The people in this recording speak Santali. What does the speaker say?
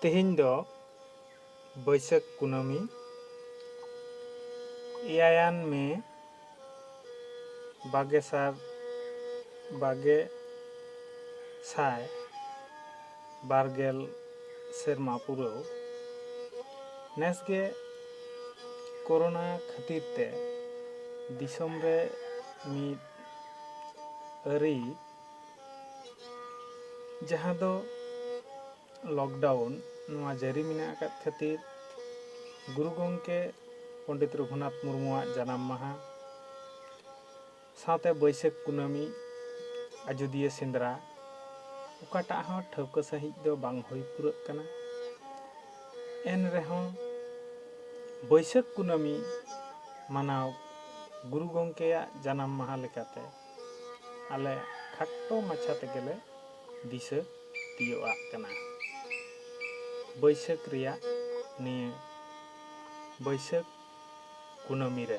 ᱛᱮᱦᱮᱧ ᱫᱚ ᱵᱟᱹᱭᱥᱟᱹᱠᱷ ᱠᱩᱱᱟᱹᱢᱤ ᱮᱭᱟᱭᱟᱱ ᱢᱮ ᱵᱟᱜᱮ ᱥᱟᱨ ᱵᱟᱜᱮ ᱥᱟᱭ ᱵᱟᱨ ᱜᱮᱞ ᱥᱮᱨᱢᱟ ᱯᱩᱨᱟᱹᱣ ᱱᱮᱥ ᱜᱮ ᱠᱳᱨᱳᱱᱟ ᱠᱷᱟᱹᱛᱤᱨ ᱛᱮ ᱫᱤᱥᱚᱢ ᱨᱮ ᱢᱤᱫ ᱟᱹᱨᱤ ᱡᱟᱦᱟᱸ ᱫᱚ ᱞᱚᱠᱰᱟᱣᱩᱱ ᱱᱚᱣᱟ ᱡᱟᱹᱨᱤ ᱢᱮᱱᱟᱜ ᱟᱠᱟᱫ ᱠᱷᱟᱹᱛᱤᱨ ᱜᱩᱨᱩ ᱜᱚᱢᱠᱮ ᱯᱚᱱᱰᱤᱛ ᱨᱚᱜᱷᱩᱱᱟᱛᱷ ᱢᱩᱨᱢᱩᱣᱟᱜ ᱡᱟᱱᱟᱢ ᱢᱟᱦᱟ ᱥᱟᱶᱛᱮ ᱵᱟᱹᱭᱥᱟᱹᱠᱷ ᱠᱩᱱᱟᱹᱢᱤ ᱟᱡᱚᱫᱤᱭᱟᱹ ᱥᱮᱸᱫᱽᱨᱟ ᱚᱠᱟᱴᱟᱜ ᱦᱚᱸ ᱴᱷᱟᱹᱣᱠᱟᱹ ᱥᱟᱺᱦᱤᱡ ᱫᱚ ᱵᱟᱝ ᱦᱩᱭ ᱯᱩᱨᱟᱹᱜ ᱠᱟᱱᱟ ᱮᱱ ᱨᱮᱦᱚᱸ ᱵᱟᱹᱭᱥᱟᱹᱠᱷ ᱠᱩᱱᱟᱹᱢᱤ ᱢᱟᱱᱟᱣ ᱜᱩᱨᱩ ᱜᱚᱢᱠᱮᱭᱟᱜ ᱡᱟᱱᱟᱢ ᱢᱟᱦᱟ ᱞᱮᱠᱟᱛᱮ ᱟᱞᱮ ᱠᱷᱟᱴᱚ ᱢᱟᱪᱷᱟ ᱛᱮᱜᱮᱞᱮ ᱫᱤᱥᱟᱹ ᱛᱤᱭᱚᱜ ᱟᱜ ᱠᱟᱱᱟ᱾ ᱵᱟᱹᱭᱥᱟᱹᱠᱷ ᱨᱮᱭᱟᱜ ᱱᱤᱭᱟᱹ ᱵᱟᱹᱭᱥᱟᱹᱠᱷ ᱠᱩᱱᱟᱹᱢᱤ ᱨᱮ᱾